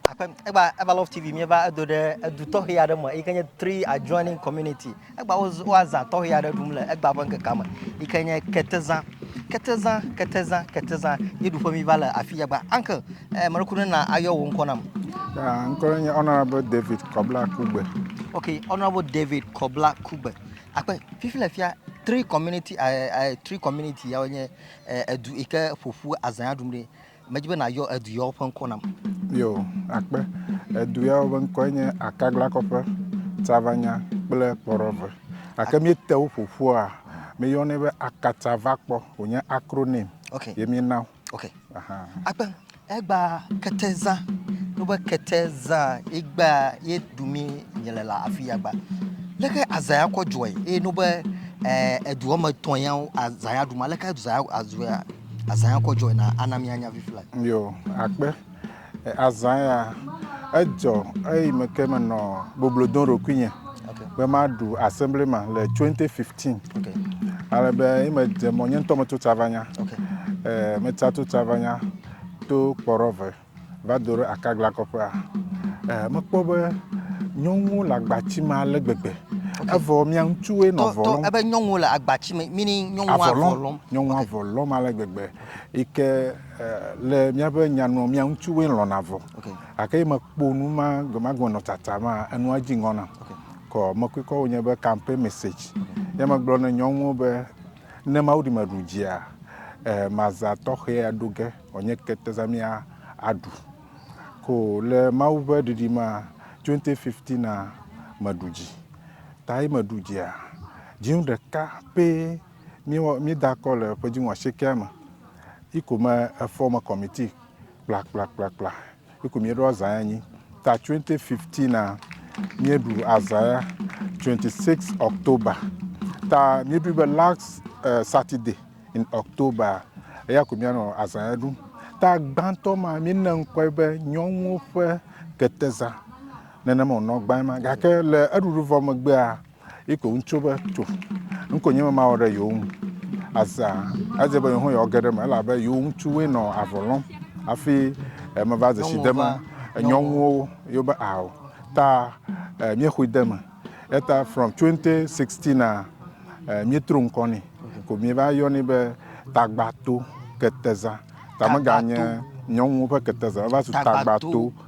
aƒe egba eva love tv mieva edo ɖe edu tɔxɛ aɖe me yike nye three adjoining community egba woazã tɔxɛ aɖe ɖum le egba ƒe ŋkekea me yike nye ketezã ketezã ketezã ketezã ye ɖuƒe mi va le afi ya gba uncle eh, meɖeku ne na ayɔ wò ŋkɔ nam ah, ŋkɔ nye honorable david kɔbla kugbe ok honorable david kɔbla kugbe akpe fifi le fia three community uh, uh, three community yawo nye uh, edu yike ƒoƒu azã aɖum ɖi Medi be nàyɔ edu yawo ƒe ŋkɔ nam. Yo, akpe. Edu yawo ƒe ŋkɔe nye Akaglakɔƒe, Tsavanya kple Kpɔɖɔve. Gake míete wo ƒo ƒua, míyɔnɛ be Akatsavakpɔ, wònye acronym okay. ye míena wo. Okay. Aha. Akpe, egba Ketezã, wobe Ketezã, egba ye du mi nye le la afi ya gba. Leke azã ya kɔ dzɔe eye nobe eh, edu wɔme etɔ̃ yawo azã ya ɖu ma, leke azã ya azɔ ya Azã ya kɔ dzɔe na ana mianya vivi la. Yo, akpe. Azã ya edzɔ eyi me ke menɔ boblo dom ɖokuinye okay. be maɖu assembly ma le 2015. Okay. Ale be yi medze mɔ nye ŋutɔ metso tsavanya. Okay. Eh, metsa to tsavanya to kpɔrɔve. Va do ɖe akagla kɔƒea, eh, mekpɔ be nyɔnuwo le agbati me ale gbegbe. Evɔ mia ŋutsuwoe nɔ avɔ lɔm. Ebe nyɔnuwo le agbati me, mini nyɔnuwo avɔ lɔm. Nyɔnuwo avɔ lɔm ale gbegbe. Yi ke eh, le míaƒe nyanua, mia ŋutsuwoe lɔna avɔ. Okay. Gake mekpɔ nu ma gbemagbe nɔ tsatsa ma, enua dzi ŋɔ nam. Okay. Kɔ mekɔekɔ wonye be campaign message. Okay. Ya megblɔ ne nyɔnuwo be ne Mawu ɖi meɖu dzia, eh, mazã tɔxɛ aɖo ge. Wònye ketezamia aɖu ko le Mawu ƒe ɖiɖimea 2015 a meɖu dzi. Tayi meɖu dzia, dziŋu ɖeka pɛ miwɔ midakɔ le ƒedziŋu ashiekea me. Yi ko me efɔ me kɔmiti kplakplakplakpla Eku mieɖo azã ya nyi ta 2015 a mieɖu azã ya 26 October ta mieɖu be last uh, Saturday in October eya ko mianɔ azã ya ɖum ta gbãtɔ ma miene ŋkɔe be nyɔnuwo ƒe ketezã nenema wònɔ gbãe ma gake le eɖuɖuvɔ megbea Iko ŋutso be to ŋko nye mama wɔ ɖe yewo ŋu azã adze be yewo yewoage ɖe me elabe yewo ŋutsuwoe nɔ avɔ lɔm hafi meva dzesi de me nyɔnuwo yewo be ao ta míexoe de me eta from 2016 a míetro ŋkɔ nɛ ko míeva yɔnɛ be tagbato keteza tameganye nyɔnuwo ƒe keteza va zu tagbato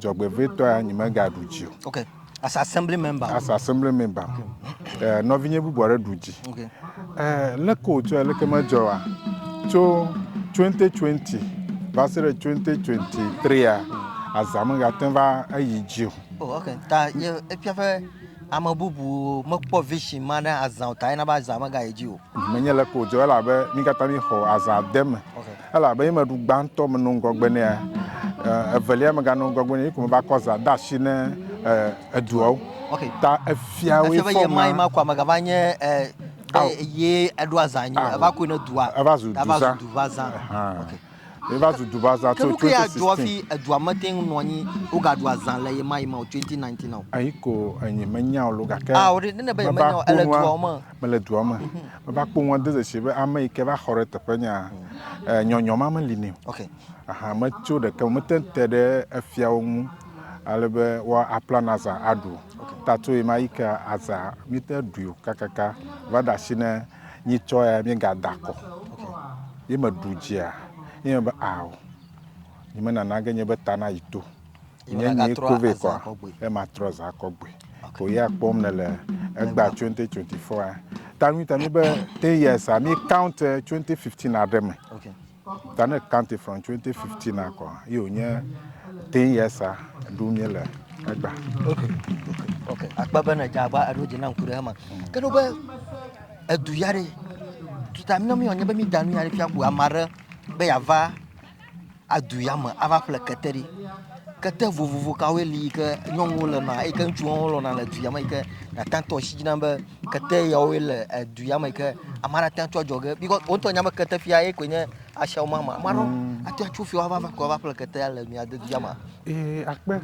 Dzɔgbevɔ̃etɔa, nyemegaɖu dzi o. Okay. As assembly member. As assembly member. Okay. Eh, nɔvinye bubu aɖe ɖu dzi. Okay. Eh, leke wòdzɔ leke medzɔa? Tso 2020 va se ɖe 2023a, azã megate va eyi dzi o. Oh, okay. Ta ye efia ƒe ame bubu mekpɔ vision ma ne azã o ta yena be azã megayi dzi o. Menye leke wòdzɔ elabe mi katã mi xɔ azã de me. Okay. Elabe ye meɖu gbãtɔ meno ŋgɔgbe nɛa? Evelia megano ŋgɔgbe nɛ, ye ko meva kɔ zã de asi ne eduawo. Ok. Ta efia woe fɔ ma. Efia be ye ma ye ma koa megava nye be ye eɖoa zã nyo. Eva koe ne dua. Eva zu duzã. Eva zu duva zã. Ok. Eva zu duva zã tso 2016. Ke nuke ya dzɔ hafi edua mete ŋu nɔ anyi woga ɖua zã le ye ma ye ma o 2019 a o. Eyi ko enyi menyao lo gake. Ao ɖe ne ne be ye menyao ele duawo me. mele dua me mhm. meva kpɔ ŋua de zesie be ame yi ke va xɔ ɖe teƒe nya eh, nyɔnyɔ ma meli nɛ o aha metso ɖeke mete te ɖe efiawo ŋu ale be woa aplan aza aɖu tato yi ma yi ke aza mite ɖui o kakaka va da asi ne nyi tsɔ ya mi ga da kɔ yi me ɖu dzia yi me be awo yi me nana ge nye be ta na yi to. Nye nyi kove kɔa ye ma trɔ za kɔ gbe. Ko ya kpɔm ne le egba 2024 a. Ta mi ta mi be 10 years a mi count 2015 a ɖe me. Ta ne count from 2015 a kɔ ye o nye 10 years a ɖu mi le egba. Okay. Akpa be ne dza agba eɖo dzi na ŋku ɖe hema. Ke no be edu ya ɖe. Tuta mi no mi o nye be mi da nu ya ɖe fia ku amare be ya va adu ya me ava ƒle kete ɖi. Kete vovovo kawoe li yi ke nyɔnuwo le nɔa eyi ke ŋutsuwo hã lɔ̃na le du ya me yi ke nàte ŋu atɔ asi dzi na be kete yawoe le du ya me yi ke ame aɖe ate ŋu atso adzɔge bikɔs wo ŋutɔ nya be ketefia ye koe nye asiawo mama. Ame aɖewo ate ŋu atso fiawo ava va koe ava ƒle ketea le mia de du ya mea. Ee akpe.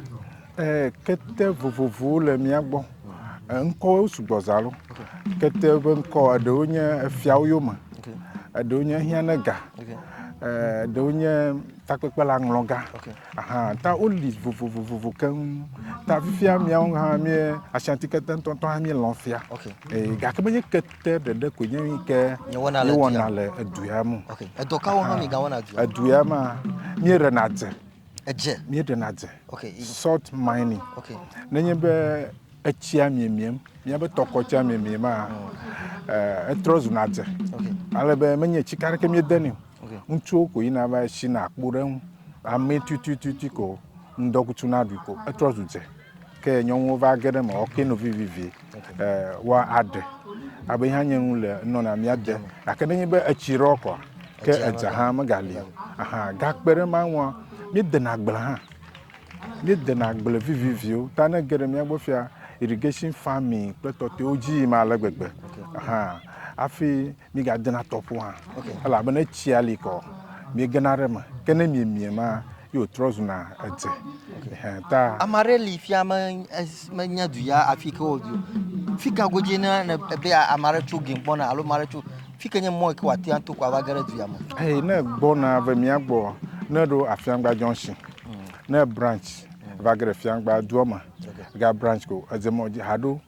Ɛɛ, kete vovovowo le mía gbɔ. Ŋkɔwo sugbɔ za ɖo. Kete ƒe ŋkɔ, eɖewo nye efiawo yome, eɖewo nye ehiãnɛga, eɖewo nye takpekpeaŋlɔga. Ahan, ta woli vovovo keŋ. Ta fifia míawo hã míe, Ashanti-kete ŋutɔŋutɔ hã míelɔ̃ fia. Ɛɛ, gake menye kete ɖeɖe koe nye nu ke míewɔna le du ya me o. Edɔ kawo hã migawɔna dua me? Edua mea, míeɖena dze. Edze. Míeɖena dze. Okay. Salt mining. Okay. Nenye be etsia miemiem, míabe tɔkɔ tsia miemiem a, mm. eh, etrɔ zuna dze. Okay. Ale be menye tsi ka ɖeke míedeni o. Okay. Ŋutsuwo ko yina va tsi na akpo ɖe ŋu. Ame tutututu ko ŋdɔkutsu na ɖui ko etrɔ zu dze. Ke nyɔnuwo va ge ɖe eme ɔ kpe no vivivi e wa aɖe abe hã nye nu le nɔ na mia de gake ne nye be etsi rɔ kɔ ke edza hã me ga li aha ga kpe ɖe ma ŋua mi de na gble hã mi de na gble viviviwo ta ne ge ɖe mia gbɔ fia irrigation farming kple tɔtɔewo dzi yi ma le gbegbe aha afi Migadena tɔƒo hã, elabena etsia li kɔ, miegena ɖe eme, ke ne miemie ma, ye wòtrɔ zuna edze. Ɛhɛ ta. Ame aɖe li fia me, menya du ya afi ke wòdi o. Fi ka godzie ne ebe ame aɖe tso game gbɔna alo ame aɖe tso fi ke nye mɔ yi ke wòate ŋu ato ko ava ge ɖe du ya me? Ɛhɛ, ne egbɔna ve mía gbɔ, ne eɖo Afiangba junction, ne ebranch va ge ɖe Fiangba dua me, ga branch ko edze mɔ dzi haɖo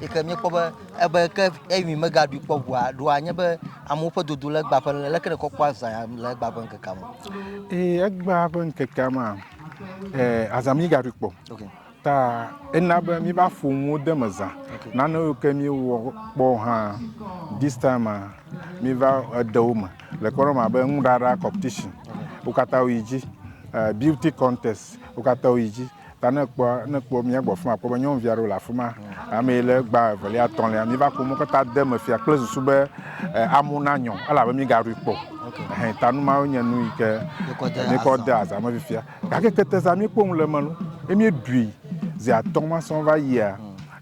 yi ke míekpɔ be ebe ke ewin megaɖui kpɔ ʋua ɖoa nye be amewo ƒe dodo le egbea ƒe leke nekɔ kpɔ azã le egbea ƒe ŋkekea me. Ee, egbea ƒe ŋkekea mea, ee, azã míegaɖui kpɔ. Okay. Ta ena be míbe aƒonuwo de me zã. Okay. Nane yiwo ke míewɔ kpɔ hã this time a míeva ede wo me le kpɔɖeŋu abe nuɖaɖa competition wo katã woyi dzi, eh, beauty contest wo katã woyi dzi. Ta ne ekpɔ ne ekpɔ mía gbɔ fima akpɔ be nyɔnuvi aɖewo le afi ma. Ame yi le gba evelia etɔ̃lia mi va ko mo kata de me fia kple susu be eh, amu na nyɔ elabe mi gaɖui kpɔ. Hɛn ta nu mawo nye nu yi ke mi kɔ de aza me fifia. Gake kete za mi kpɔ nu le me lo. Emi ɖui zi atɔ̃ ma sɔn va yia.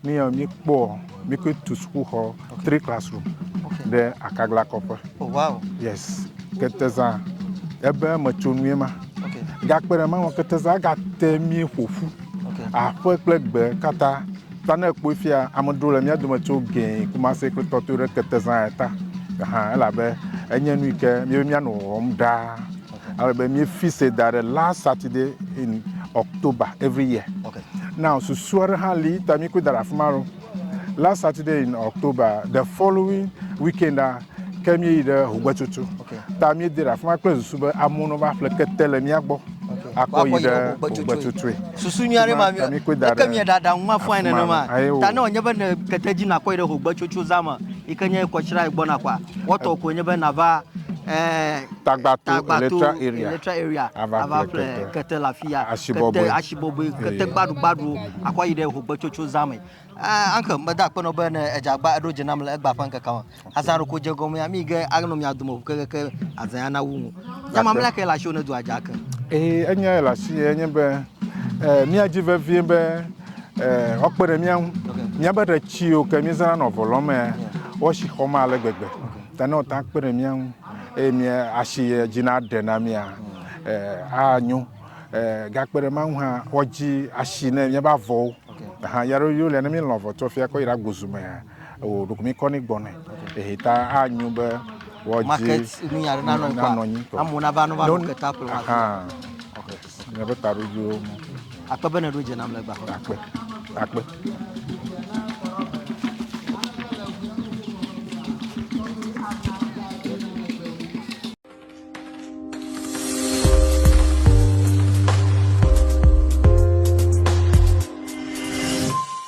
Mi ya mi kpɔ mi ko tu sukuxɔ three classroom ɖe akagla kɔƒe. Oh wow. Yes. Keteza ebe metsonue ma. Okay. Gakpe ɖe mawɔ keteza gate mi ƒoƒu. Okay. Aƒe kple gbe katã. Ta ne kpɔe fia ame ɖewo le mía dome tso gɛ kumase kple tɔto ɖe keteza ta. Aha elabe enye nu yi ke mi be mía nɔ wɔm ɖaa. Ale be mi fise da ɖe last Saturday in October every year. Okay. Now susu aɖe hã li ta mi koe da ɖe afi ma ɖo. Last Saturday in October, the following weekend a ke mi yi ɖe Hogbetsotso. Okay. Ta mi de ɖe afi ma kple susu be amewo no va ƒle kete le mia gbɔ. Okay. Akɔ yi ɖe Hogbetsotsoe. Susu nyui aɖe ma mi. Ta mi koe da ɖe. Eke mi da ɖe anwa fɔe nene ma. Ta ne wònye be ne kete dzi nakɔ yi ɖe Hogbetsotso zama yi ke nye kɔtsira gbɔ nakɔa, wɔtɔ koe nye be nava ɛɛ. Eh, Tagbato, Electra Area, ava ƒle kete le afi ya, kete asibɔbɔe, kete gbaɖugbaɖuwo, akɔ yi ɖe hogbetsotso zã me. Eh, uncle, mede akpe nɔ be ne edze agba eɖo dze nam le egba ƒe ŋkekea me. Azã ɖeko dze gɔmea, mi ge anɔ mia dome ʋu kekeke azã ya nawu ŋu. Nya mamlɛa kae le asiwò ne dua dze ake? Ee, enyae le asi enye be eh, míadi vevie be eh, woakpe ɖe mía ŋu. Míabe ɖe tsiwo ke míezãna nɔ vɔ lɔmea, woasi xɔm ale gbegbe. Ta ne woate ŋu akpe ɖe mía ŋu. eye mía asi dzi na ɖe na mía anyo gakpe ɖe ma ŋu hã woadzi asi ne míaƒe avɔwo hã ya ɖo yole ne mílɔ avɔ tsɔ fia kɔ yi ɖe agbozu me hã o ɖoko mi kɔ ne gbɔ ne ehe ta anyo be wɔdzi market nu ya nanɔ anyi amewo nava nova nɔ keta kplɔ Míaƒe taɖodzoewo mɔ. Akpe be nèɖo dze nam le gbexɔ. Akpe. Akpe.